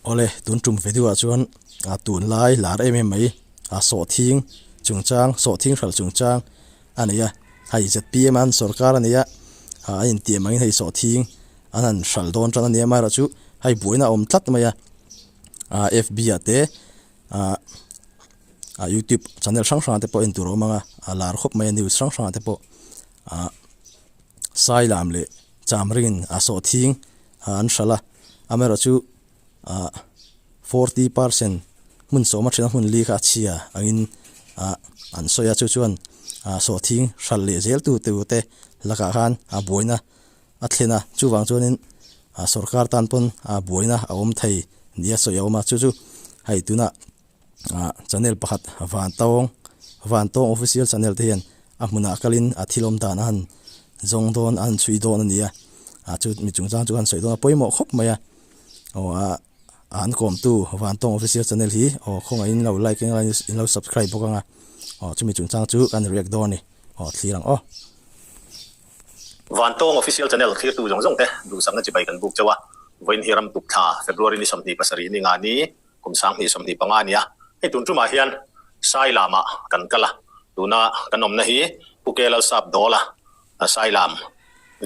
Awle, tun tum ve deuhah chuan aa tunlai lar em em mai, aa sawhthing chungchang, sawhthing hral chungchang a ni a, hei zpm a han sawrkar a nia a intiam angin hei sawhthing an han hral dawn tan a nia, mahra chu hei buaina a awm tlat mai a, aa FB ah te aa aa YouTube channel hrang hrang te pawh en tur a awm ang a, a lar khawp mai a news hrang hrang te pawh aa. sai lam leh cham ringin a sawh thing a an hral a, amerawh chu forty per cent hmun sawma thina hmun li kha a chhia angin an sawi a, chu chuan sawh thing hral leh zel tu te ute lakah khan a buaina a thlen a, chuvang chuanin sorkar tan pawn buaina a awm thei nia sawi a awm a, chu chu hei tunah. Channel pakhat Vantawng Vantawng official channel te hian a hmunah kalin a thil awm dan a han zawng dawn a han chhui dawn a nia a chu mi chung chang chu han sawi dawn a pawimawh khawp mai a aw a an kawmtu Vantawng official channel hi aw khawngaih in lo like eng emaw in lo subscribe bawk anga aw chu mi chung chang chu kan react dawn a ni aw thlir ang aw. Vantawng official channel thlir tu zawng zawng te duhsakna chi bai kan buk chauh a vawiin hi ram tuk thla February ni sawmhnih pasarih ni nga ni. kum sanghnih sawmhnih panga a ni a, hei tun tumah hian Sai Lama kan kal a, tuna kan awmna hi Pu Kelalsap Dawla Sai Lam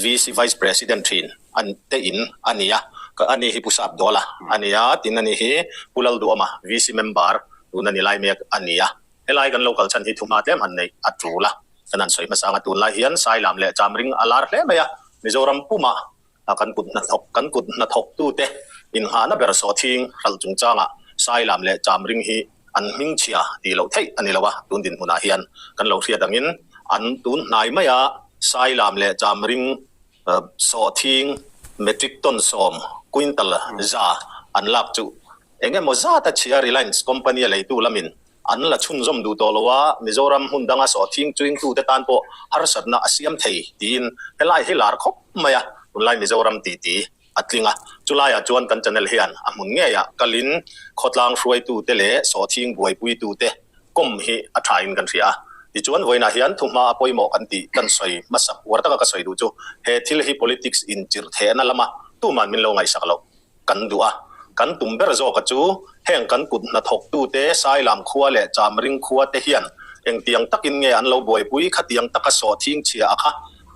VC Vice President thin an te in a ni a, ka a nih hi Pu Sap Dawla a ni a, tin a nih hi Pu Lalduhawma VC Member tun a ni lai mek a ni a, helai kan lo kal chhan hi thu hma tlem han neih a tul a, kan han sawi hmasa ang a, tunlai hian Sai Lam leh Chamring a lar hle mai a, Mizoram pumah A kan kut hnathawk kan kut hnathawktute inngahna ber sawhthing hral chungchangah sai lam leh cham ring hi an hming chhia tih loh theih a ni lo a, tun dinhmunah hian kan lo hriat angin an tun hnai maia sai lam leh cham ring sawhthing metric ton sawm, quintal, za an lak chu eng emaw zata chhia Reliance company a leitu lamin An la chhunzawm duh tawh lo a, Mizoram hmun danga sawhthing chuingtute tan pawh harsatna a siam thei, tiin helai hi lar khawp mai a, tunlai Mizoram titi a tling a. Chulaiah chuan kan channel hian a hmun ngeiah kalin khawtlang hruaitute leh sawhthing buaipuitute kawm hi a thain kan hria a. Tichuan vawiinah hian thu hma a pawimawh kan tih kan sawi hmasa, uar taka ka sawi duh chu he thil hi politics inchirhthehna lama tuman min lo ngaihsak loh. kan duh a, kan tum ber zawka chu heng kan kut hnathawktute Sailam khua leh Chamring khua te hian engtiang takin nge an lo buaipui khatiang taka sawhthing chhia a kha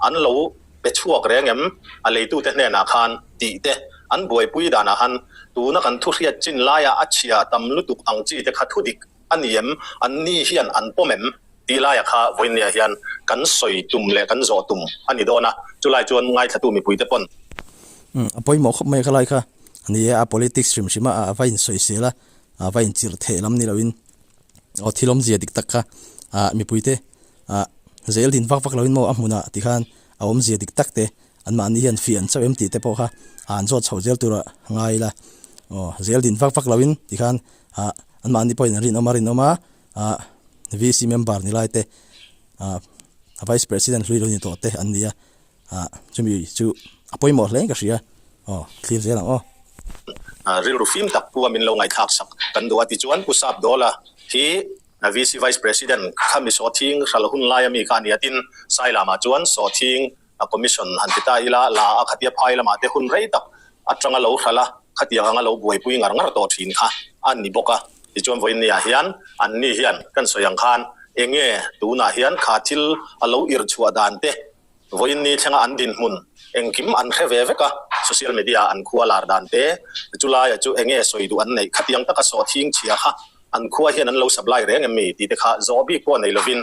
an lo pe chhuak reng em? A leitute hnenah khan tih te an buaipui danah han tuna kan thu hriat chin laia a chhia tam lutuk ang chi te kha thu dik A ni em? An ni hian an pawm em? Tih laia kha Vawinia hian kan sawi tum leh kan zawh tum a ni dawn a, chulai chuan ngaithlatu mipuite pawn. A pawimawh khawp mai kha lai kha a ni e, a politics hrim hrima a va insawi sel a, a va inchirh theh lam ni loin aw thil awmzia dik tak kha mipuite zeldin vak vak loin maw a hmun ah tikhan a awmzia dik tak te Anmahni hian fih an chauh em tih te pawh kha a an zawt chhoh zel tur a ngai ila, aw zel din vak vak loin ti khan ah anmahni pawhin an rinawm a rinawm a, ah VC member ni lai te ah Vice President hlui lo ni tawh te an ni a, ah chumi chu a pawimawh hle ka hria, aw thlir zel ang aw. Rilru fim tak pu a min lo ngaithlak sak kan duh a ti chuan Pu Sapdawla hi VC Vice President kha mi sawhthing hral hun laia mi kha a ni a tin Sai Lama chuan sawhthing a commission han ti ta ila la a khatia phai lamah te hun rei tak atanga lo hral a khatiang anga lo buaipui ngar ngar tawh thin kha a ni bawk a tichuan vawinia hian anni hian kan sawi ang khan enge tunah hian kha thil a lo ir chhuah dan te vawiinni thlenga an dinhmun engkim an hre ve vek a social media an khua lar dan te chulaia chu enge sawi duh an neih khatiang taka sawhthing chhia kha an khua hian an lo sak lai reng em ni tih te kha zawh bik pawh nei lovin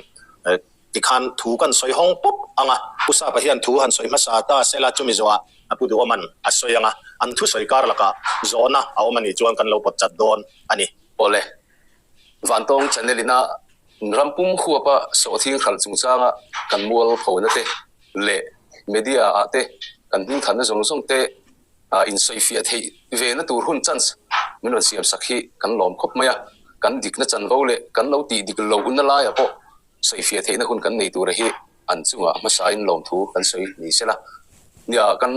tikhan thu kan sawi hawng pawp ang a, Pu Sapa hian thu han sawi hmasa ta sela chumi zawha a pu duh awm an a sawi ang a, an thusawi kar laka zawhna a awm anih chuan kan lo pawtchat dawn a ni. Awle. Vantawng channel ina ram pum huapa sawhthing hralh chungchanga kan mual phona te leh media ah te kan hming thanna zawng zawng te ah insawifiah theih vena tur hun chance min rawn siamsak hi kan lawm khawp mai a, kan dikna chanvo leh kan lo tih dik lohna laia pawh Sawifiah theihna hun kan nei tura hi an chunga hmasain lawmthu kan sawi ni se la, nia kan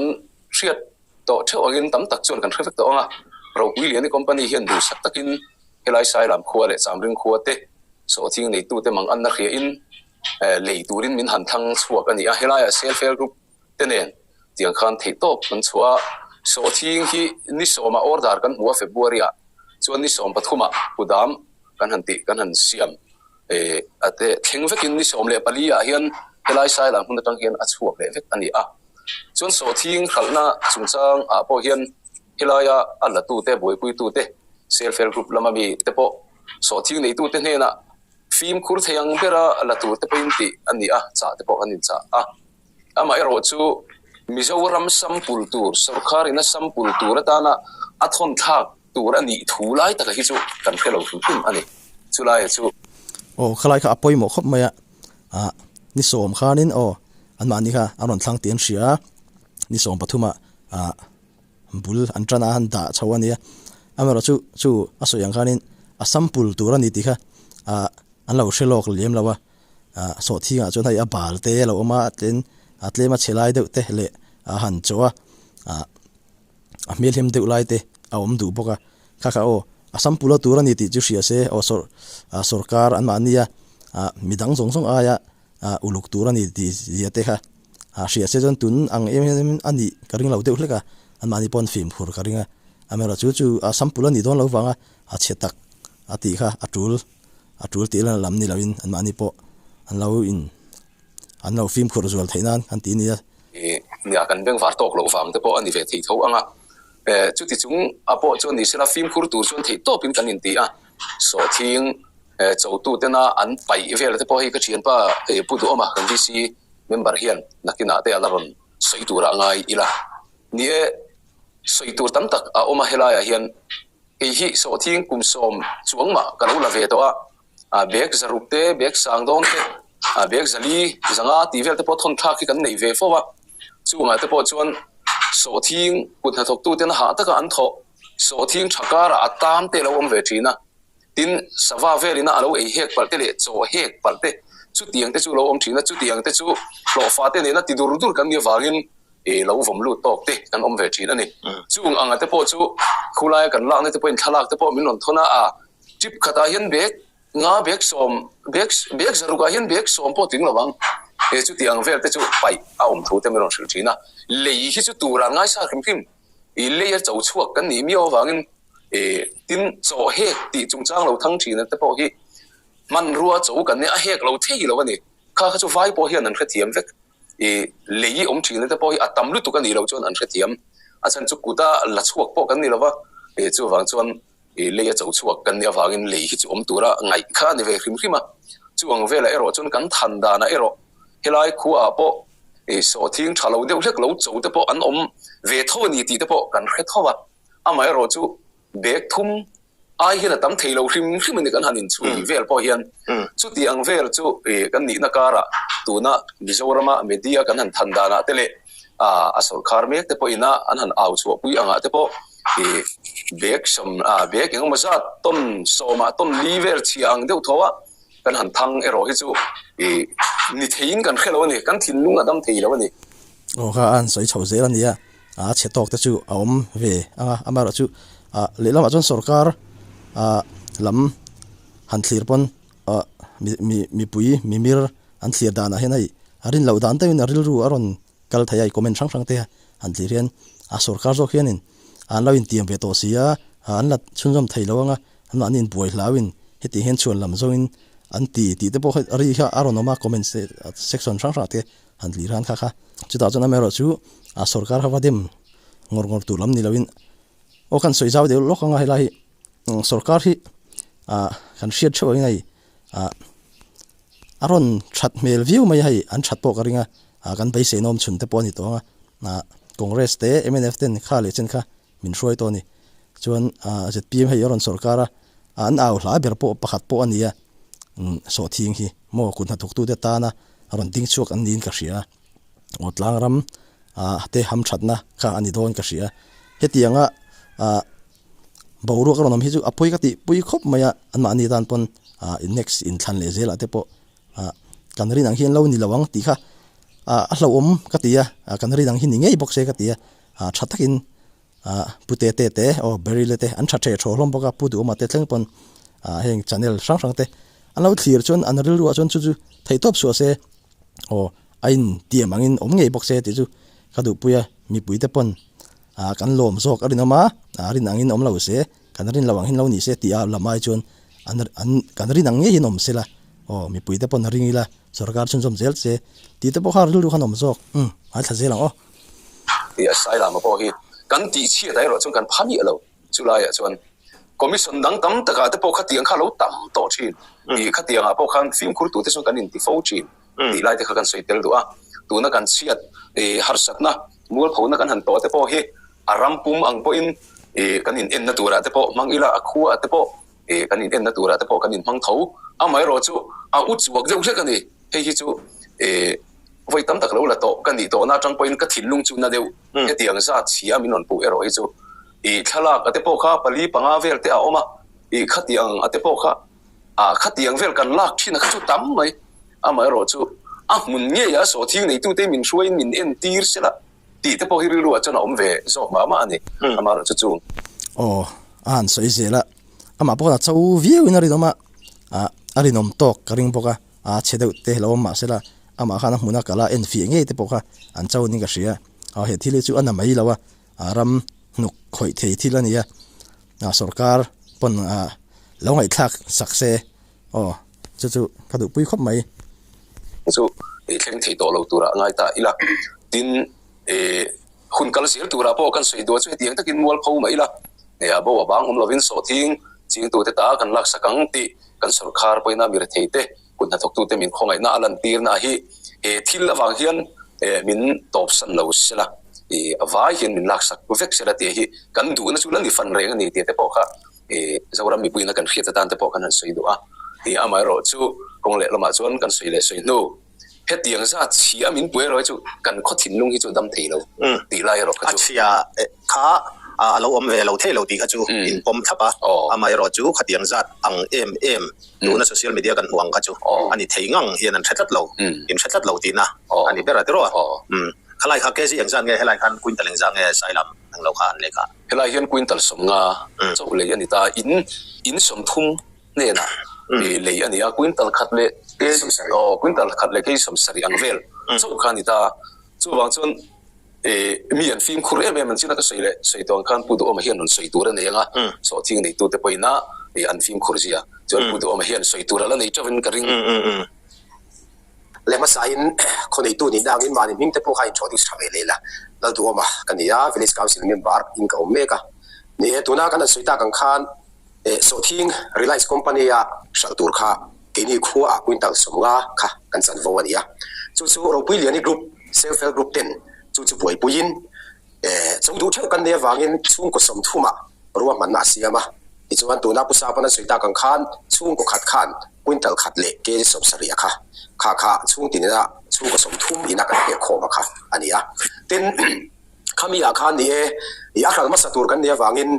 hriat tawh theuh angin tam tak chuan kan hre vek tawh ang a. Ropui Liani Company hian duhsak takin helai Sailam khua leh Chamring khua te sawhthing neitute manganna hria in lei turin min han thlang chhuak a ni a, helaiah Self Help Group te nen tiang khan theih tawp an chhuah a, sawhthing hi ni sawma order kan hmu a February-a chuan ni sawm pathuma pu dam kan han tih kan han siam thleng vekin ni sawm leh paliah hian helai sai lam hmun atang hian a chhuak leh vek a ni a, chuan sawhthing hralhna chung changah pawh hian helaia a latute buaipuitute self help group lama mi te pawh sawhthing neitute hnenah fimkhur thei ang bera latute pawhin tih a ni a chah te pawh kan inchah a. Amaherawh chu, Mizoram sampul tur, sorkarin a sampul tur atana a thawnthlak tur a nih thu lai taka hi chu kan hre lo thun thun a ni. Chu laia chu. Aw, khalai kha a pawimawh khawp mai a. Ah, ni sawm khanin aw, anmahni kha a rawn thlang tih an hria a, ni sawm pathuma ah bul an tana an dah chho a nia. Amaherawh chu, chu a sawi ang khanin a sampul tur a ni tih kha ah an lo hre lawk lem lo a. ah sawhthingah chuan hei a bal te alo awm a, a tlen a tlema chhe lai deuh te leh a han chaw a ah a hmelhem deuh lai te a awm duh bawk a, kha kha aw a sam pulh a tur a ni tih chu hria se aw sawr ah sawrkar an mahnia ah midang zawng zawng aia ah uluk tur a ni tih zia te kha ah hria se chuan tun ang em em a nih ka ring lo deuh hlek a, an mahni pawh an fim khur ka ring a, amerawh chu chu a sam pulh a nih dawn lo vang a a chhe tak a tih kha a tul. a tul tih la lam ni lo in anmahni pawh an lo in an lo fim khurh zual theih nan an ti nia. Nia kan bengvar tawk loh vang te pawh a ni ve thei tho ang a, chuti chung a pawh chuan ni se la fim khur tur chuan theih tawp in kan in ti a, sawhthing chaw tu ten a an paih vel te pawh hei ka thianpa Pu Duhawma kan VC member hian nakin ah te a la rawn sawi tur a ngai ila ni e, sawi tur tam tak a awm a helai ah hian. Kei hi sawhthing kum sawm chuang mah ka lo la ve tawh a, bag zaruk te, bag sang dawng te, bag zali zanga tih vel te pawh thawn thlak hi kan nei ve fo va, chungah te pawh chuan sawhthing kut hnathawk tu ten hah taka an thawh, sawhthing tha karah a tam te lo awm ve thin a, tin sava velina a lo ei hek palh te leh chaw hek palh te chutiang te chu lo awm thin a, chutiang te chu hlawhfate nena ti dur dur kan nih avangin i lo vawm lut tawk te kan awm ve thin a ni. Chung anga te pawh chu khulaia kan lakna te pawhin thlalak te pawh min rawn thawn a, a tip khatah hian bag nga bag sawm bag bag zaruk ah hian bag sawm pawh ting lo ang e chuti ang vel te chu paih a awm thu te min rawn hrilh thin a, lei hi chu turah ngai sa hrim hrim i lei a cho chhuak kan nih miau avangin e tin chaw hek tih chungchang lo thang thin te pawh hi hmanrua cho kan nia a hek lo thei lo a ni, kha kha chu vai pawh hian an hrethiam vek. I lei hi awm thin na te pawh hi a tam lutuk a nih loh chuan an hrethiam a chhan chu kut a la chhuak pawh kan ni lo va i chu vang chuan i lei a cho chhuak kan nih avangin lei hi chu awm tura ngaih kha a ni ve hrim hrim a chuang velah erawh chuan kan than danah erawh helai khuaah pawh i sawhthing tha lo deuh hlek lo cho te pawh an awm ve tho a ni tih te pawh kan hre tho va amaherawh chu bag thum ai hian a tam thei lo hrim hrim a ni kan han inchhui vel pawh hian chuti ang vel chu ih kan nihna kara tuna Mizorama media kan han than danah te leh ah a sawrkhar mek te pawhin a an han au chhuah pui angah te pawh ih bag sawm ah bag engemaw zat tawn sawmah tawn li vel chhia ang deuh tho a kan han thang erawh hi chu ih ni theiin kan hre lo a ni kan thinlung a dam thei lo a ni. Aw kha an sawi chhoh zel a nia. a chhe tawk te chu a awm ve ang a, amaherawhchu chu lehlamah chuan sawrkar lam han thlir pawn mipui mimir an thlir danah hian hei a rinloh dan deuhin a rilru a rawn kal thei a, hei comment hrang hrang te han thlir hian a sawrkar zawk hianin anlo intiam ve tawh si a, an la chhunzawm thei lo ang a, anmahni in buai hlauin hetiang hian chhuan lam zawngin an ti tih te pawh hei ri kha a rawn awm a, comments te section hrang hrang te. han tli hlan khakha chutah chuan amerawh chu a sorkar ho va dem ngawr ngawr tur lam nilo in aw khan sawi zau deuh lawk anga helai hi sorkar hi ah kan hriat theuh angin hei ah a rawn that hmel viau mai a hei an that pawh ka ring a ah kan beisei nawm chhun te pawh ani tawh ang a ah congress te mnf ten kha leh chen kha min hruai tawh a ni. Chuan zpm hei a rawn sawrh kar a, an au hlai ber pawh pakhat pawh a ni a, sawhthing hi maw kut hnathawk tu te tana a rawn ding chhuak an niin ka hria a, aw tlang ram te ham thatna kha a ni dawn ka hria. Hetianga boruak a rawn awm hi chu a pawi ka tih pui khawp mai a, an mahni tan pawn next in thlan leh zel ah te pawh kan rin ang hian lo ni lo ang tih kha a hlauhawm ka ti a, kan rin ang hi ni ngei bawk se ka ti a. a tha takin ah Pu Tete te aw Berry la te an tha theh thawh hlawm bawk a, Pu Duhawma te thleng pawn ah heng channel hrang hrang te an lo thlir chuan an rilru ah chuan chu chu thei tawp suah se aw a in tiam ang in awm ngei bawk se tih chu ka duhpuia mipui te pawn ah kan lawm zawk a rinawm a, a rin ang in awm lo se. Kan rin lo ang hin lo ni se tih a lam ai chuan an an kan rin ang ngei hian awm sela aw mipui te pawn a ring ila sorkar chuan zawm zel che tih te pawh kha rilru khan awm zawk umm ai thla zel ang aw. Tih a sai lam a pawh hi kan tih chhiat ah erawh chuan kan pha miah lo chu lai ah chuan commission dang tam tak ah te pawh khatiang kha lo tam tawh thin tih khatiang ah pawh khan fimkhur tu te chuan kan in ti fo thin tih lai te kha kan sawi tel duh a, tuna kan chhiat harsatna mualphona kan han tawh te pawh hi a ram pum ang pawhin kan inenna turah te pawh hmang ila a khuaa te pawh kan inenna turah te pawh kan inhmang tho, amaherawh chu a u chhuak deuh hlek a ni, hei hi chu vawi tam tak lo la tawh ka nih tawhna atang pawhin ka thinlung chu na deuh hetiang zat siam in rawn puh erawh hi chu thlalak te pawh kha pali panga vel te a awm a, khatiang te pawh kha a khatiang vel kan lak thin a kha chu tam mai, amaherawh chu a hmun ngei a saw thing neitu te min hruaiin min en tir sela tih te pawh hi rilru ah chuan a awm ve zawk mah mah a ni, amaherawh chu chung. Aw, a han sawi zel a, amah pawh kha cho viau in a rinawm a, a rinawm tawk ka ring bawk a, a che deuh te lo awm mah sela amah khan a hmun a kal a, en fiah ngei te pawh kha an cho in ka hria, aw he thil hi chu a na mai lo a, ram hnuk khawih thei thil a nia a sorkar pawn a lo ngaihthlak sak se aw chu chu ka duh pui khawp mai. Chu ih thleng thei tawh lo turah ngai ta ila tin ih hun kal zel turah pawh kan sawi duh chu hetiang takin mual pho mai ila ih a bo avang awm lovin sawhthing chingtute ta kan laksak ang tih kan sorkar pawhin a mir thei te. kut hnathawktute min khawngaihna a lantirnaah hi he thil avang hian min tawpsan lo sela a vai hian min laksak vek sela tih hi kan duhna chu la ni fan reng a ni tih te pawh kha Zoram mipuina kan hriat atan te pawh kan han sawi duh a, tia amaherawh chu kawng leh lamah chuan kan sawi leh sawi hnu hetiang zat chhia a min pu erawh hi chu kan khaw thinlung hi chu a dam thei lo tih lai erawh kha chu a chhia kha a lo awm ve lo thei lo tih kha chu in pawm thlap a, amaherawh chu khatiang zat ang em em. Nuna social media kan hmuh ang kha chu a ni thei ngang hian an hre tlat lo, in hre tlat lo tihna a ni ber a ti rawh a. Khalai kha KZ eng zat nge? Helai khan Quintal eng zah nge? Sai lam hming lo kha an leh kah. Helai hian Quintal sawmnga chauh lei a ni ta, in in sawm thum hnena peh lei a ni a, Quintal khat leh kei sawm sarih aw Quintal khat leh kei sawm sarih ang vel chauh kha a ni ta, chuvang chuan mi an fimkhur em em an chin a ka sawi leh sawi tuan khan Pu Duhawma hian rawn sawi tur a nei ang a, sawhthiang neitute pawhina an fimkhur zia chuan Pu Duhawma hian sawi tur ala nei teuhin ka ring leh hmasain khawneihtu nih dangin mahni hming te pawh kha inthuah tih sa ve leh la Lalduhawma ka nia village council member in ka awm mek a ni e tuna kan rawn sawi tak ang khan Eh, Sawhthing, Reliance Company a hralh tur kha keini khuaah quintal sawmnga kha kan chanvo a nia. Chu chu Ropui Liani Group, Self Help Group ten chu chu buaipuiin eh, chawng duh theuh kan nei avangin chhungkaw sawmthuma ruahmanna a siam a. Tichuan tuna pu sapa nan sawi tak ang khan chhungkaw khat khan quintal khat leh kg sawmsarih a kha kha kha chhungti nena chhungkaw sawmthum ina kan pek khawm a kha a nia. Tin, khamiah khan ni e, ih a hral hmasa tur kan nei avangin,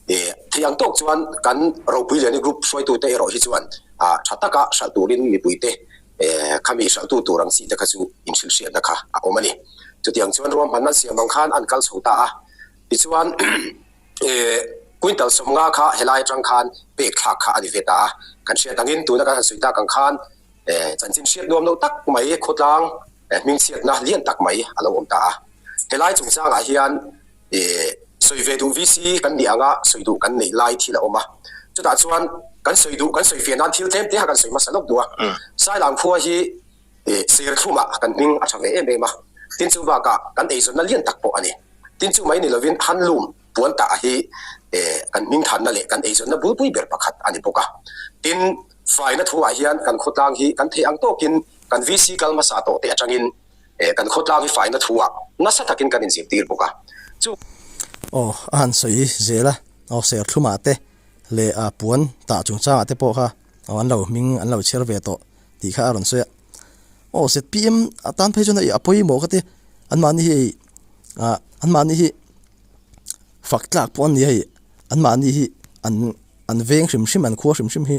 E. Theih ang tawk chuan kan ropui liani group hruaitute erawh hi chuan a tha taka hralh turin mipuite e khami hralhtu tur ang chi te kha chu inhrilhriatna kha a awm a ni. Chutiang chuan ruam hmanna siam ang khan an kal chho ta a. Tichuan e quintal sawm nga kha helai atang khan pek thlak kha a ni ve ta a. Kan hriat angin tuna kan han sawi tak ang khan e chanchin hriat nuam lo tak mai khawtlang hmingchhiatna lian tak mai a lo awm ta a. Helai chungchangah hian. sawi ve duh VC kan nih anga sawi duh kan neih lai thil a awm a, chutah chuan kan sawi duh kan sawi fiah nan thil tlem te kha kan sawi hmasa lawk duh a, Sailam khua hi serthlumah kan hming a tha ve em em a, tin chu bakah kan eizawnna lian tak pawh a ni, tin chu mai ni lovin handloom puan tah hi kan hming thanna leh kan eizawnna bul pui ber pakhat a ni bawk a, tin faina thungah hian kan khawtlang hi kan theih ang tawkin kan VC kal hmasa tawh te atangin eh, kan khawtlang hi faina thuah nasa takin kan inzirtir bawk a. Chu. Aw, a han sawi zel a, aw serthlumah te leh a puan tah chungchangah te pawh kha aw an lo hming an lo chhiar ve tawh tih kha a rawn sawi a. Aw zpm atan phei chuan a pawimawh ka ti a, anmahni hi hei ah anmahni hi fak tlak pawh an ni a hei, anmahni hi an an veng hrim hrim an khua hrim hrim hi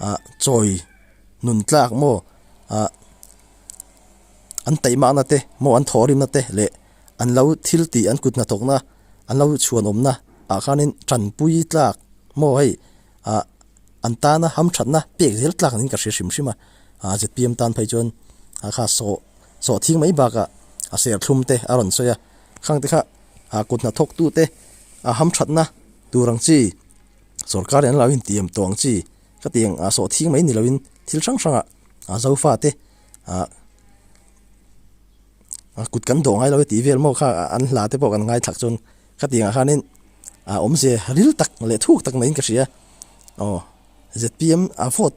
ah chawi nun tlak maw ah, an taih mahna te maw an thawhrimna te leh an lo thil tih an kut hnathawkna an lo chhuanawmna ah khanin tanpui tlak maw hei ah an tana hamthatna pek zel tlak niin ka hre hrim hrim a, zpm tan phei chuan a kha sawh sawh thing mai bakah a serthlum te a rawn sawi a, khang te kha ah kut hnathawk tute ah hamthatna tur ang chi sorkar in an lo inti em tawh ang chi. Khatiang a sawh thing mai ni loin thil hrang hranga Zofa te a kut kan dawh ngai lo e tih vel maw kha an hla te pawh kan ngaithak chuan khatiangah khanin a awmzia ril tak leh thuk tak neiin ka hria aw zpm a vote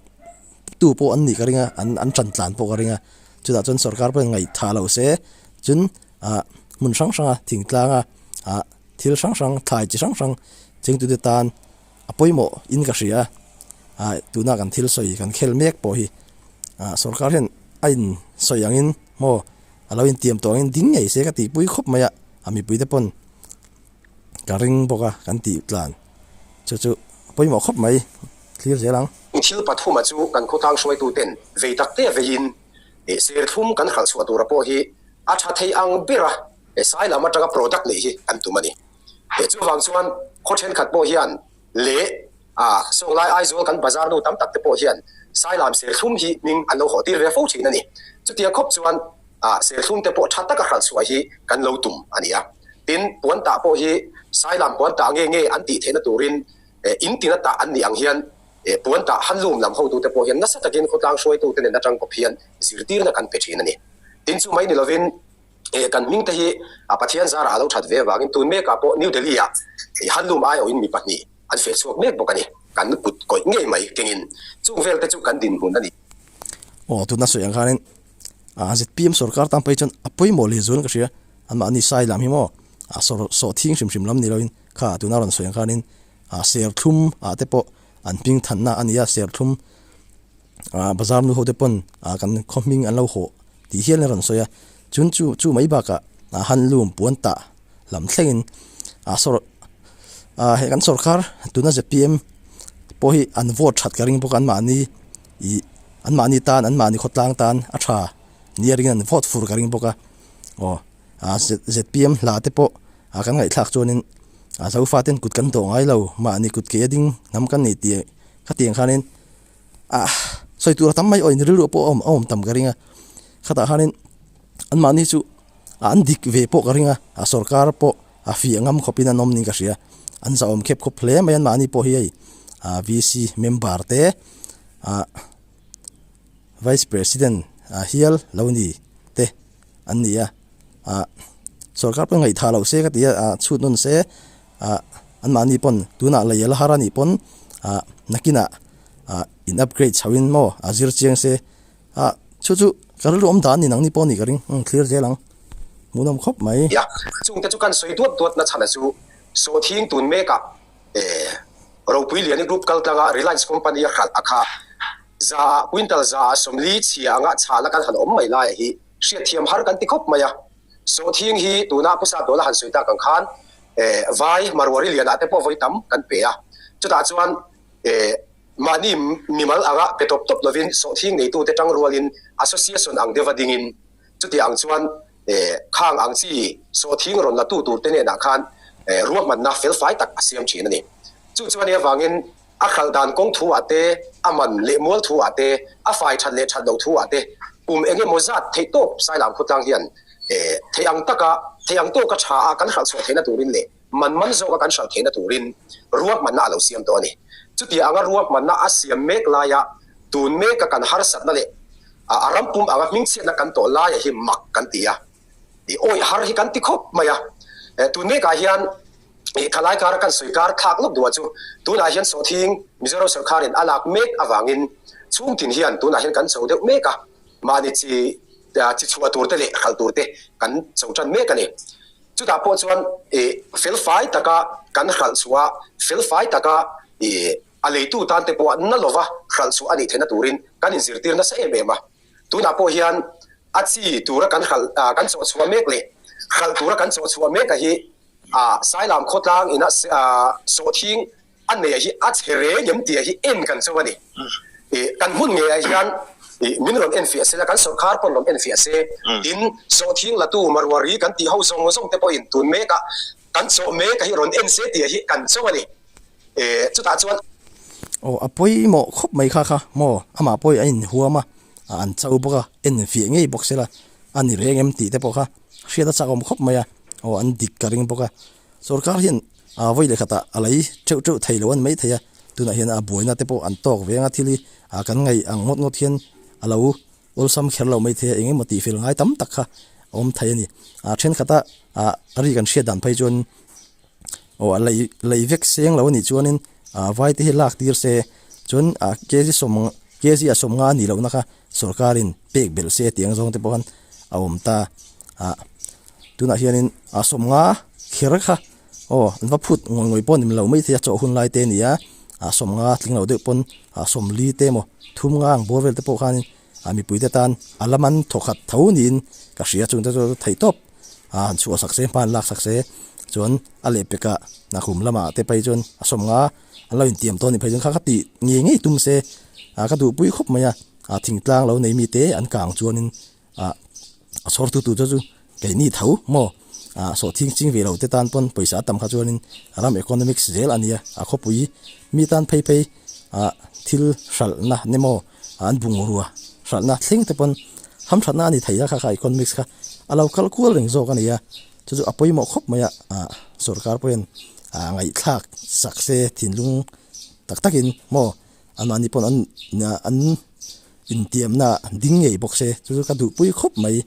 tu pawh an nih ka ringa an tan tlan pawh ka ringa chutah chuan sorkar pawhin ngaih tha lo se chuan hmun hrang hranga thingtlanga thil hrang hrang thlai chi hrang hrang chengtute tan. A pawimawh in ka hria a, tuna kan thil sawi kan khel mek pawh hi sorkar hian a in sawi ang in maw a lo intiam tawh ang in ding ngei se ka ti pui khawp mai a, a mipui te pawn ka ring bawk a kan tih tlan chu chu a pawimawh khawp mai clear zel ang. Thil pathuma chu kan khawtlang hruaitu ten vei tak te vei in serthlum kan harh chhuah tur a pawh hi a tha thei ang ber a, Sai lam atanga product neih hi kan tum a ni. He chu vang chuan khaw thenkhat pawh hian leh a sawng lai Aizawl kan bazar nu tam tak te pawh hian sai lam serthlum hi hming an lo haw tir ve fo thin a ni. Chutia khawp chuan a serthlum te pawh tha taka hralh chhuah hi kan lo tum a ni a. Tin, puan tah pawh hi sai lam puan tah nge nge an tih theihna turin in tina tah an nih ang hian puan tah handlum lam ho tu te pawh hian nasa takin khawtlang hruaitu te nen atang kawp hian zirtirna kan pe thin a ni. Tin chu mai ni lovin Eh, kan hmingte hi a Pathian zarah a lo that ve avangin tun mekah pawh New Delhi-a handlum ai awin mi pahnih an fel chhuak mek bawk a ni. Kan kut kawih ngei mai kengin chung velte chu kan dinhmun a ni. Aw, tuna sawi ang khanin a zpm sorkar tan pawhin chuan a pawimawh leh zualin ka hria, anmah ani sai lam hi maw? A sawr sawh thing hrim hrim lam ni loin kha tuna rawn sawi ang khanin a serthlum ah te pawh an hmingthanna a nia, serthlum. bazar nu hote pawn kan khawhming an lo hawh tih hial in a rawn sawi a, chun chu chu mai bakah handloom puan tah lam thlengin he kan sawrkar tuna zpm pawh hi an vote that ka ring bawk a, anmahni ih anmahni tan anmahni khawtlang tan a tha nia ringin an vote fur ka ring bawk a, aw zpm hla te pawh kan ngaihthlak chuanin Zofaten kut kan dawh ngai lo mahni kut keh a ding hnam kan nei tih ka tih ang khanin a sawi tur tam mai awin rilru pawh a awm tam ka ring a khatah hianin an mahni chu ah an dik ve pawh ka ring a a sorkar pawh a fiah ngam khawp in an awm niin ka hria an zahawm khep khawp hle mai an mahni pawh hi hei ah V C member te ah vice president a hial lo ni te an ni a ah sorkar pawh ngaih thalo se ka ti a ah chhut nun se. ah anmahni pawn tunah lei a la har a nih pawn ah nakinah ah in upgrade chho in maw a zir chiang se ah chu chu ka rilru awm dan in ang ni pawh a nih ka ring umm thlir zel ang hmuhnawm khawp mai. Yak chungte chu kan sawi duat duat na chhan a chu saw thing tun mek a eh ropui liani group kal tlang a reliance company a hralh a kha za ah quintal za ah sawmli chhia anga chhah na kan han awm mai lai a hi hriat thiam har kan ti khawp mai a. Saw thing hi tuna phu sap dawla han sawi tak ang khan vai Marwari lianah te pawh vawi tam kan pe a, chutah chuan mahni mimal anga pe tawp tawp lovin saw thing neitu te tang rualin association ang deuh va dingin chutiah ang chuan khang ang chi saw thing rawn latu tur te hnenah khan ruahmanna felfai tak a siam thin a ni. Chu chuan ni avangin a khalh dan kawng thu-ah te, a man leh mual thu-ah te, a fai that leh that lo thu-ah te, kum eng emaw zat theih tawp sai lam khutlang hian theih ang taka, theih ang tawka tha-a kan hralh chhuah theihna turin leh man man zawka kan hralh theihna turin ruahmanna a lo siam tawh a ni. Chutia anga ruahmanna a siam mek laia tun meka kan harsatna leh a rampum anga hmingchhiatna kan tawh laia hi mak kan ti a. I awih har hi kan ti khawp mai a. Tun mekah hian i thalai kara kan sawi kar thlak lawk duhah chu tunah hian sawhthing Mizoram sawrkharin a lak mek avangin chhungtin hian tunah hian kan cho deuh mek a, mahni chi chi chhuah tur te leh hralh tur te kan cho tan mek a ni. Chutah pawh chuan i felfai taka kan hralh chhuah a, felfai taka i a leitu tan te pawh na lova hralh chhuah a nih theihna turin kan inzirtir nasa em em a. Tunah pawh hian a chi tura kan hralh kan chawh chhuah mek leh hralh tura kan chawh chhuah meka hi Sai Lam khawtlang ina sawhthing a neia hi a chhe reng em tia hi en kan chauh a ni. Kan hmun ngeiah hian min rawn en fiah se la kan sawrkhar pawn rawn en fiah se in sawhthing latu Marwari kan tih ho zawng zawngte pawhin tun meka kan chawh meka hi rawn en se tia hi kan chauh a ni. Eh, chutah chuan. Aw, a pawimawh khawp mai kha kha maw, amah pawhin a inhuam a, a an chau bawk a, en fiah ngei bawk sela, a ni reng em tih te pawh kha hriat a chakawm khawp mai a, aw an dik ka ring bawk a, sorkar hian aa vawi leh khatah a lei ṭeuh ṭeuh thei lo a ni mai thei a, tunah hian a buaina te pawh an tawk ve ang a, thil hi aa kan ngaih ang ngawt ngawt hian a lo awlsam kher lo mai thei a, eng emaw tih fel ngai tam tak kha a awm thei a ni, aa ṭhenkhatah aa ri kan hriat dan phei chuan. Aw a lei lei vek seng lo a nih chuanin aa vai te hi lak tir se chuan aa kg sawm kg a sawm nga a nih loh na kha sawrkarin pek belh se tih ang zawng te pawh khan a awm ta a tunah hianin aa sawm nga kher kha aw an va phut ngawih ngawih pawh a nih loh maithei a chaw hun lai te a nia aa sawm nga tling loh deuh pawn aa sawm li te emaw thum nga ang bawr vel te pawh khanin. A mipuite tan a lam an thaw khat tho niin ka hria chungte chu theih tawp a, an chhuah sak se, hma'n lak sak se chuan a leh peka kum lamah te phei chuan a sawm nga an lo intiam tawh a nih phei chuan kha ka tih ngei ngei tum se a, ka duhpui khawp mai a, a thingtlang lo nei mite an kang chuanin a a chhawrtu tu te chu kei ni tho maw a sawhthing ching ve lote tan pawn pawisa a tam kha chuanin ram economics zel a nia a khawpui mi tan phei phei a thil hralhna nemaw. an bungrua hralhna thleng te pawn hamthatna a ni thei a kha kha economics kha a lo kal kual reng zawk a ni a chu chu a pawimawh khawp mai a ah sorkar pawh hian ah ngaihthlak sak se thinlung tak tak in maw amah ni pawh an ah an intiamna ding ngei bawk se chu chu ka duhpui khawp mai.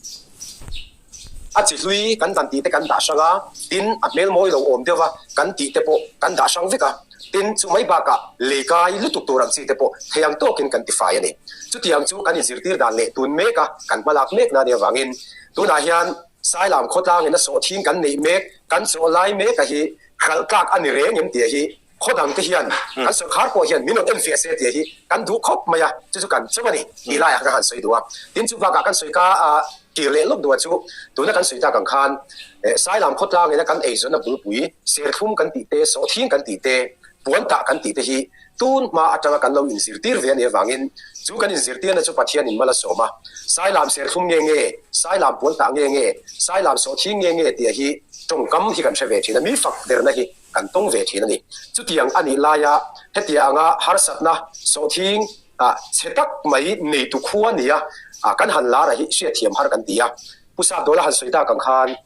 A chi hlui kan dan tih te kan dah hrang a, tin a hmel mawi lo awm deuh a, kan tih te pawh kan dah hrang vek a. Tin, chu mai bakah lei kai lutuk tur ang chi te pawh theiang tawkin kan ti fai a ni. Chutiang chu kan inzirtir dan leh tun mek a, kan hmalak mek nani avangin. Tunah hian Sailam khawtlangin a sawh thin kan neih mek, kan sawh lai meka hi hralh tlak a ni reng em tih a hi Khaw dang te hian kan sawi khar pawh hian min rawn en fiah se tia hi kan duh khawp mai a, chu chu kan cheu a ni tih laiah ka han sawi duh a. Tin chu bakah kan sawi ka kir leh lawk duh chu tuna kan sawi tak ang khan Sailam khawtlangin a kan eizawn a bulpui serthlum kan tih te, sawhthing kan tih te, puan tah kan tih te hi tun hma atanga kan lo inzirtir ve a nih avangin chu kan inzirtirna chu Pathianin mal a sawm a. Sailam serthlum nge nge, Sailam puan tah nge nge, Sailam sawhthing nge nge tia hi tawngkam hi kan hre ve thin a, mi fak derna hi. kan tawng ve thin a ni. Chutiang a nih laia hetia anga harsatna sawhthing chhe tak mai neitu khua nia kan han lar a hi hriatthiam har kan ti a. Pu Sapdawla han sawi tak ang khan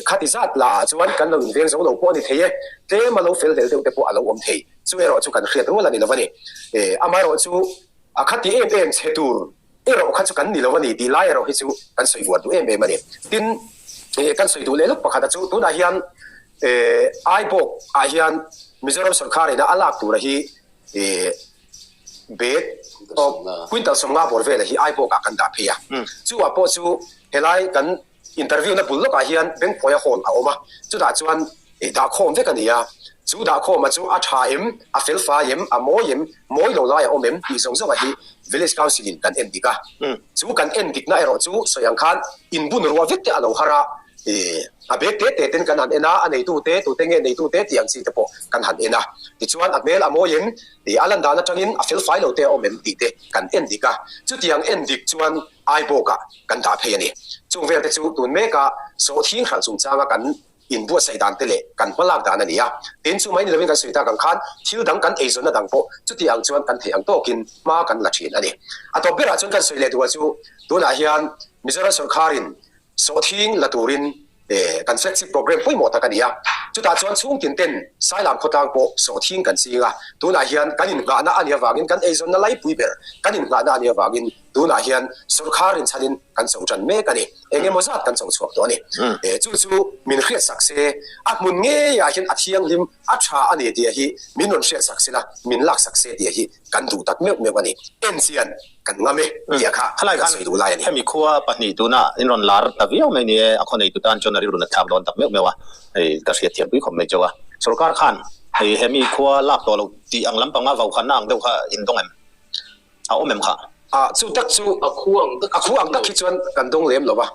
khati zat la ah chuan kan lo inveng zo lo pawh a ni thei e, tlem a lo fel vel deuh te pawh a lo awm thei. Chu erawh chu kan hriat rual a ni lo a ni. Amaherawhchu khati em em chhe tur Erawh kha chu kan ni lo a ni tih lai erawh hi chu kan sawi buat duh em em a ni. Tin, he kan sawi duh leh lut pakhata chu tunah hian Ibok ah hian Mizoram sawrkar in a lak tura hi bag quintal sawmnga bawr vel a hi Ibok ah kan dah phei a. Chungah pawh chu helai kan. Interview na bul lawkah hian bengpuaia hawn a awm a, chutah chuan ih dah khawm vek a ni a, chu dah khawma chu a tha em, a felfai em, a mawi em, mawi lo lai a awm em tih zawng zawngah hi Village Council in kan en dik a, chu kan en dikna erawh chu sawi ang khan inbun ruah vek te a lo har a, ih a bag te te ten kan han en a, a neitute tute nge neitute tih ang chi te pawh kan han en a, tichuan a hmel a mawi em, ih a lan dan atangin a felfai lo te a awm em tih te kan en dik a, chutiang en dik chuan Aibawkah kan dah phei a ni. Chung velte chu tun meka sawh thing hralh chungchanga kan inbuatsaih dan te leh kan hmalak dan a ni a. Tin, chu mai ni lovin kan sawi tak ang khan thil dang kan eizawnna dang pawh chuti ang chuan kan theih ang tawkin hma kan la thin a ni. A tawp berah chuan kan sawi leh duh a chu tunah hian Mizoram sawrkharin Sawhthing la turin kan flagship programme pawimawh tak a ni a, chutah chuan chhungtin ten sai lam khawtlang pawh sawhthing kan sing a, tunah hian kan innghahna a ni avangin kan eizawnna laipui ber kan innghahna a ni avangin tunah hian sorkar rinchhanin kan chho tan mek a ni, eng emaw zat kan chho chhuak tawh a ni. Chu chu min hriat sak se, a hmun ngeiah hian a thianghlim a tha a ni tih hi min rawn hriat sak sela, min lak sak se tih hi kan duh tak meuh meuh a ni. Enchian Kan ngam e, tia kha khalaia a sawi duh lai a ni. Hemi khua pahnih tuna in rawn lar ta viau mai ni e, a khaw nei tu tan chuan a rilru na thlak dawn tak meuh meuh a, hei ka hriat thiam pui khawp mai chu a. Sorkar khan hei hemi khua lak tawh lo tih ang lampanga vaukhatna ang deuh kha a indawng em? A awm em kha? A chu tak chu a khu ang tak chu a awm lo. A khu ang tak khi chuan kan dawng lem lo va,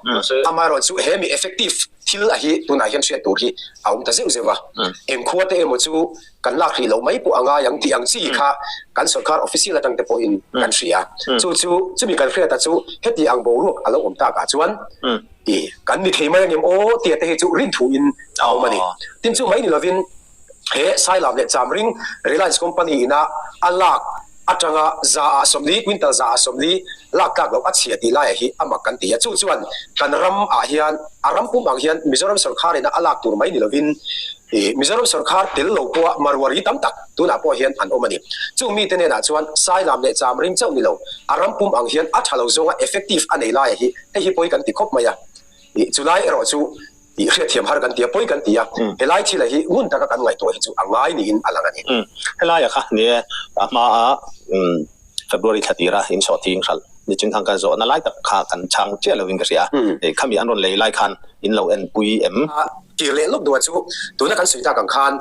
amaherawhte chu hemi effective thil a hi tunah hian hriat tur hi a awm ta zeuh zeuh a, eng khua te emaw chu. kan lak rih loh mai pawh a ngai ang tih ang chi kha kan sorkar official atang te pawhin kan hria. Chu chu chumi kan hriata chu heti ang boruak a lo awm takah chuan i kan ni thei mai a nge maw tia te hi chu rin thuin a awm a ni. Tin chu mai ni lovin he Sai Lam leh Chamring Reliance Company ina a lak Atanga za ah sawm ni, quintal za ah sawm ni, lak tlak loh a chhia tih lai ah hi a mak kan ti a. Chu chuan kan ram ah hian a ram pum ang hian Mizoram sorkar in a lak tur mai ni lo in Mizoram sorkar tel lo pawh a Marwari tam tak tun ah pawh hian an awm a ni. Chu mi te nen ah chuan sai lam leh cham ring chauh ni lo, a ram pum ang hian a tha lo zong a effective a nei lai ah hi hei hi pawi kan ti khawp mai a. Chu lai erawh chu Tih hriatthiam har kan ti a, pawi kan ti a, helai thila hi ngun taka kan ngaihtuah hi chu a ngai niin a lang a ni. Helaia kha ni e, a hmaa February thla tira insawhting hralh nichin thang kan zawhna lai tak kha kan chhang chiah loin ka hria a, hei khami an rawn lei lai khan in lo enpui em? A tir leh lawk duh a chu tuna kan sawi tak ang khan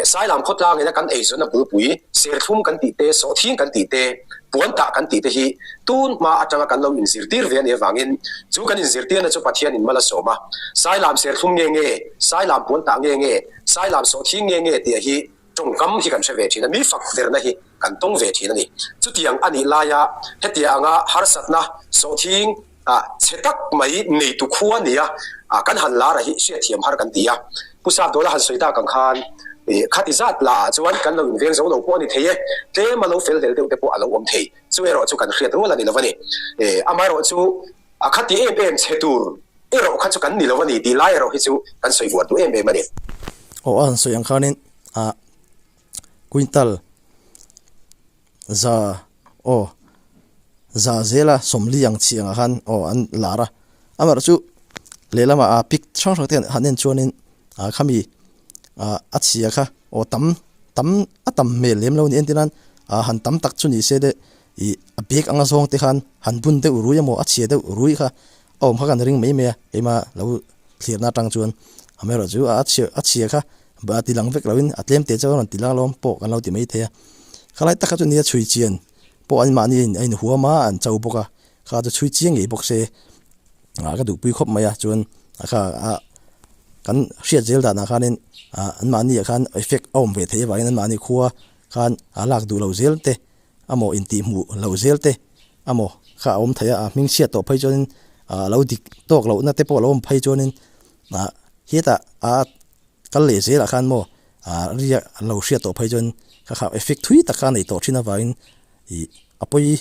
Sailam khawtlang ina kan eizawnna purpui, serthlum kan tih te, sawhthing kan tih te, puan tah kan tih te hi tun hma atanga kan lo inzirtir ve a nih avangin chu kan inzirtirna chu Pathian in mal a sawm a. Sailam serthlum nge nge, sailam puan tah nge nge, sailam sawhthing nge nge tih a hi tawngkam hi kan hre ve thin a, mi fak verna hi kan tawng ve thin a ni. Chutiang a nih laia hetia anga harsatna, sawhthing, a chhe tak mai neitu khu a ni a, kan han lar a hi hriatthiam har kan ti a, Pu Sapdawla han sawi tak ang khan khati zat la ah chuan kan lo inveng zo lo pawh a ni thei e, tlem a lo fel vel deuh te pawh a lo awm thei, chu erawh chu kan hriat rual a ni lo a ni, amaherawh chu a khati em em chhe tur erawh kha chu kan ni lo a ni tih lai erawh hi chu kan sawi vuan duh em em a ni. Aw a han sawi ang khanin a quintal. Za, Aw. Za zela sawmli ang chi angah khan aw an lar a. Amerh chu lehlamah a pic hrang hrangte an han en chuanin a khami a chhia kha aw tam tam a tam hmel lem lo ni entir nan a han tam tak chu ni se de ih a bag anga zawng te khan han bun deuh rui emaw a chhia deuh rui kha a awm kha kan ring mai mai a keimah lo thlir na atang chuan Amerh chu a chhia kha Ba ti lang vek loin a tlem teh chauh a rawn ti lak lawm pawh kan lo ti maithei a. Khalai takah chuan nia chhui chian pawh an mahni a in huam a an chau bawk a, kha chu chhui chiang ngei bawk se a ka duhpui khawp mai a, chuan a kha a kan hriat zel danah khanin an mahni ah khan effect a awm ve thei avangin an mahni khua khan a lak duh lo zel te amaw intihhmuh lo zel te amaw kha a awm thei a, a hming chhiat tawh phei chuanin a lo dik tawk lohna te pawh a lo awm phei chuanin Aa, hetah a kal leh zel ah khan maw aa ria an lo hriat tawh phei chuan kha kha effect thui tak kha a nei tawh thin avangin ih a pawi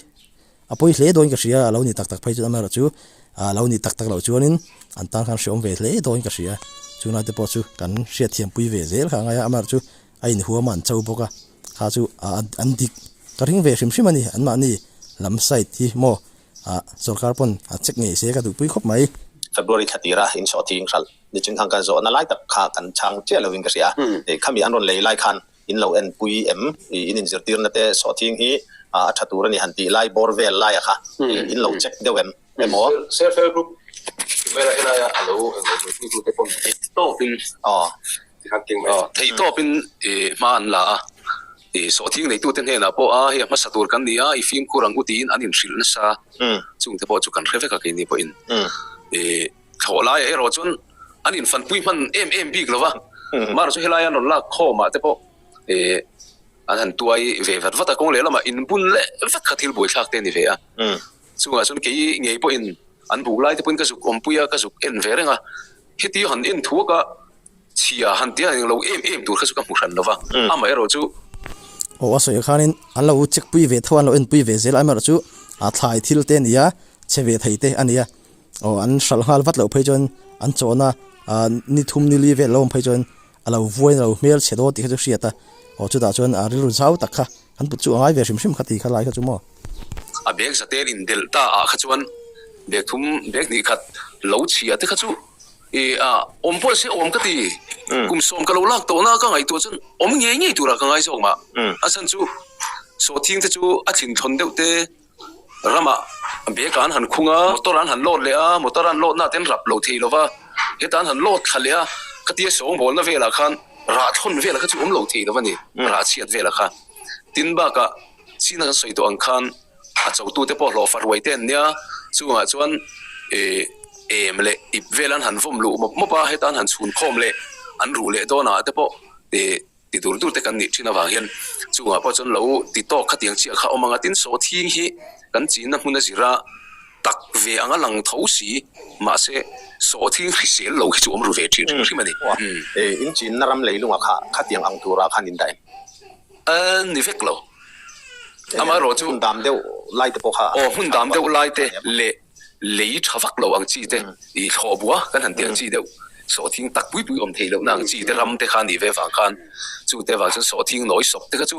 a pawi hle dawn in ka hria a lo ni tak tak phei chuan ama erawh chu aa lo ni tak tak loh chuan in an tan khan hreawm ve hle dawn in ka hria chunga te pawh chu kan hriat thiam pui ve zel kha a ngai a ama erawh chu a in huam a an cho bawk a kha chu aa an dik ka hring ve hrim hrim a ni anmahni lam side hi maw ah sorkar pawn a check ngei se ka duhpui khawp mai. February thla tira inchhuah thi inghral ni chungkhang kan zawh nalai tak kha kan chhang chiah lovin ka hria a, khami an rawn lei lai khan in lo en pui em i in inzirtir nate chhuah thing hi a tha tur ani han tih lai bawr vel laia kha in lo check deuh em emaw. Self help group vela helai a lo en lo duhpui tute pawn tawk in. Aw Thei tawpin i hma an la a, i sawhthing neitute hnenah pawh a, hei a hmasa tur kan ni a, i fimkhur ang u tiin an inhrilh nasa a, chungte pawh chu kan hre vek a keini pawhin. I thlawh laia erawh chuan an infanpui hman em em bik lova, mahra chu helai an rawn lak khawmah te pawh i an han tuai ve vat vat a, kawng lehlamah inbun leh vek kha thil buaithlak te a ni ve a, chungah chuan kei ngei pawhin an buk laite pawhin ka zuk awmpui a, ka zuk en ve reng a. Heti han en thuak a, chhia han tia eng lo em em tur kha chu ka hmu hran lo va, amaherawh chu. Aw a sawi khan in an lo check pui ve theuh a, an lo en pui ve zel a, amaherawh chu a thlai thil te a ni a, chhe ve thei te a ni a, aw an hral nghal vat loh phei chuan an chawn a, ni thum ni li vel lo awm phei chuan A lo vuain a lo hmel chhe dawn tih kha chu hriat a, aw chutah chuan aa rilru zau tak kha kan kut chu a ngai ve hrim hrim kha tih kha lai kha chu maw. A bag zatel in delh ta ah kha chuan bag thum bag hnih khat lo chhia te kha chu i a awm pawh se awm ka ti, kum sawm ka lo lak tawh na ka ngaihtuah chuan awm ngei ngei tur ah ka ngai zawk mah, a chhan chu sawhthing te chu a thin thawn deuh te. ramah bag an han khung a motor an han load leh a motor an load na te an rap lo thei lova heta an han load thla leh a ka ti a sawngbawl na velah khan rah thlawn velah kha chu awm lo thei lova ni rah chhiat velah kha tin bakah sina kan sawi tawh ang khan a cho tu te pawh hlawhfa ruai te an nia chungah chuan ih em leh ip vel an han vawm luh mawp mawp a heta an han chhun khawm leh an ruh leh dawn ah te pawh ih Ti tur tur te kan nih thin avang hian chungah pawh chuan lo ti tawk khatiang chiah kha awm ang a, tin saw thing hi kan chinna hmuna zira tak ve anga lang tho si, mahse saw thing hrisel lo hi chu awm ru ve thin hrim hrim a ni. In chinna ram leilungah kha khatiang ang turah khan indah em? A ni vek lo, amaherawhchu. Hmun dam deuh lai te pawh kha. Aw, hmun dam deuh lai te leh lei tha vak loh ang chi te, ih thlawh bua kan han tel chi deuh, sawhthing tak pui pui awm thei lohna ang chi te ram te kha nih ve vang khan chute vang chuan sawhthing nawi sawp te kha chu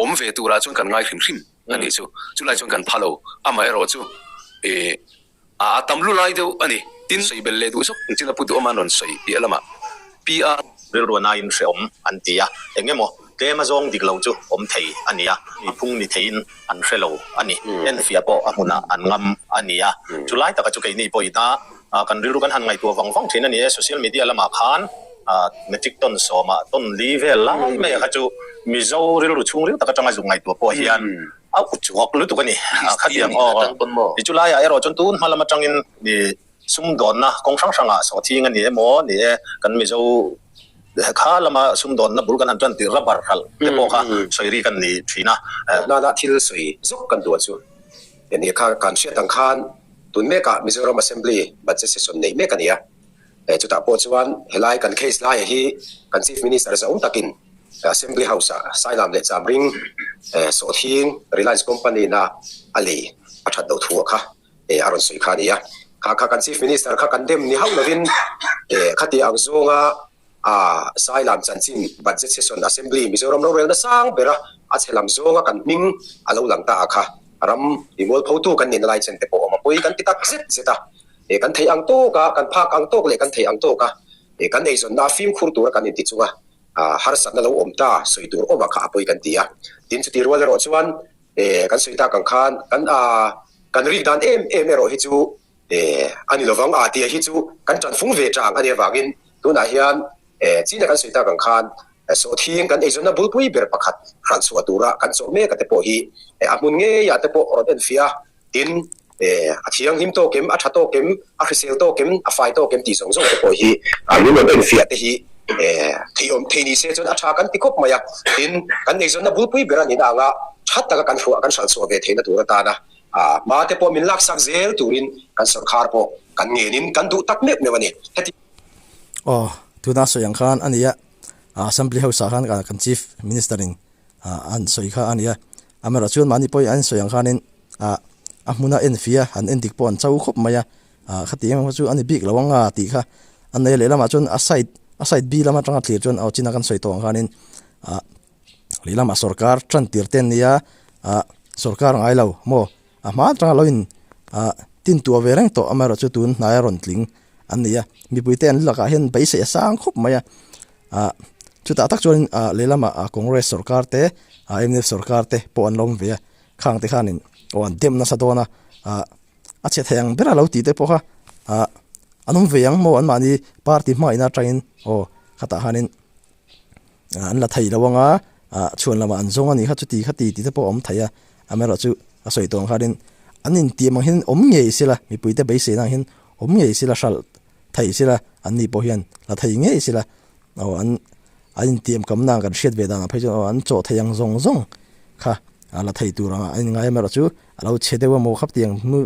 awm ve turah chuan kan ngai hrim hrim a nih chu, chulai chuan kan pha lo, amah erawh chu ih a a tam lu lai deuh a ni, tin sawi bel leh duh zawk ang chin a pu duh awm a an rawn sawi piah lamah piah a. Rilru a naiin hreawm an ti a, eng emaw Tlema zawng dik lo chu awm thei a ni a, a phung ni theiin an hre lo a ni. Enfiah pawh a hmunah an ngam a ni a. Chu lai taka chu keini pawh i ta a, kan rilru kan han ngaihtuah vang vang thin a ni e. Social media lamah khan Matric tawn sawmah tawn li vel lai mai kha chu Mizo rilru chhung ril tak atanga zuk ngaihtuah pawh hian a uchuak lutuk a ni. Khatiang aw, i chu laiah erawh chuan tun hma lam atangin mi. Sumdawnna kawng hrang hrangah sawhthing a ni e maw ni e, kan Mizo kha lama sumdawnna bul kan han ṭan tirh rubber hralh te pawh kha sawi ri kan nih ṭhin a. Hmuh hnana thil sawi zawk kan duh chu he ni kha kan hriat ang khan tun mekah Mizoram Assembly budget session neih mek a ni a, chutah pawh chuan helai kan case laia hi kan Chief Minister zaum takin Assembly House ah sailam leh cham ring sawhthing Reliance Company-na a lei a ṭhat doh thu a kha. a rawn sawi kha a nia, kha kha kan Chief Minister kha kan dem ni hauh lovin khati ang zawnga a sai lam chanchin budget session Assembly Mizoram rorelna sang bera a chhe lam zawnga kan hming a lo lang ta a kha ram rimual pho tu kan nih na lai chen te pawh awm a pawi kan ti tak zet zet a kan theih ang tawk a kan phak ang tawk leh kan theih ang tawk a kan eizawnna a fimkhur tur a kan inti chunga harsatna lo awm ta sawi tur awm a kha a pawi kan ti a tin chutih rual erawh chuan e kan sawi tak ang khan kan a kan rik dan em em erawh hi chu e a ni lovang a tia hi chu kan tanfung ve ta ang ania vangin tunah hian e chin a kan sawi tak ang khan sawhthing kan eizawnna bulpui ber pakhat hran chhuah tura kan chawh mek a te pawh hi a hmun ngeiah te pawh rawn en fiah a Tin, a thianghlim tawk em, a tha tawk em, a hrisel tawk em, a fai tawk em tih zawng zawng te pawh hi lunglawmna infiah te hi theiawm thei ni se chuan a tha kan ti khawp mai a. Tin, kan eizawnna bulpui ber a nihna anga that taka kan hruah kan hralh chhuah ve theihna tur atana hma te pawh min laksak zel turin kan sorkar pawh kan ngenin kan duh tak meuh meuh a ni. Heti. Aw, tuna a sawi ang khan a nia, Assembly House-ah khan kan Chief Minister-in an sawi kha a nia. Amerawh chuan mahni pawhin an sawi ang khanin ah a hmuna en fia an en dik pawh an chau khawp mai a, ah khati engemaw chu a ni bik lo anga tih kha a nei lehlamah chuan a side a side bi lam atanga thlir chuan aw China kan sawi tawh ang khanin ah lehlamah sorkar tantir te an nia ah sorkar a ngai lo maw? A hmaa tra lo in ah tintua ve reng tawh amaherawh chu tun hnai a rawn tling an ni a. Mipuite an lakah hian beisei a sang khawp mai a. Ah chutah tak chuan in ah lehlam ah Congress sawrkar te ah mdf sawrkar te pawh an lo awm ve a. Khang te khan in aw an dem nasa dawn a. Ah a chhe thei ang ber a lo ti te pawh kha ah an awm ve ang maw an mahni party hmain atangin aw khatah khan in an la thei lo ang a, chhuan lamah an zawng a nih kha chuti kha ti tih te pawh a awm thei a, amaherawh chu a sawi tawh ang kha rin an intiam ang hian awm ngei sil a, mipuite beiseina ang hian awm ngei sil a, hralh thei sil a, an ni pawh hian la thei ngei sil a, aw an an intiam kamna ang kan hriat ve danah phei chuan aw an chaw thei ang zawng zawng kha a la thei tur ang a, a ingai amaherawh chu a lo che deuh a maw khap tih ang hnu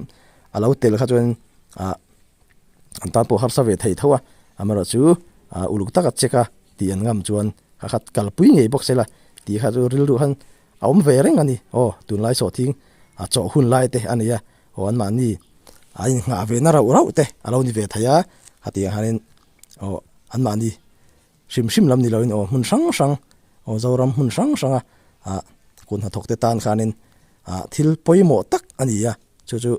a lo tel kha chuan a. an tan pawh a harsa ve thei tho a, amaherawhchu chu uluk taka check a tih an ngam chuan hakhat kalpui ngei bawk sela tih kha chu rilru han a awm ve reng a ni, aw tunlai sawhthing a chawh hun lai te a ni a, aw anmahni a inngah ve na rauh rauh te a lo ni ve thei a, hetiang ah hianin aw anmahni hrim hrim lam ni loin aw hmun hrang hrang aw Zoram hmun hrang hrang a ah kun hnathawk te tan khanin ah thil pawimawh tak a ni a, chu chu.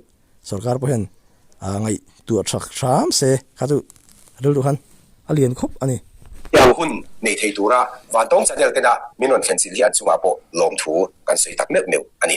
sorkar pawh hian aa ngaih tu a chhak hram se, kha chu rilru khan a lian khawp a ni. Tiang hun nei thei tura vantawng channel tena min rawn thlen sin hi an chungah pawh lawmthu kan sawi tak meuh meuh a ni.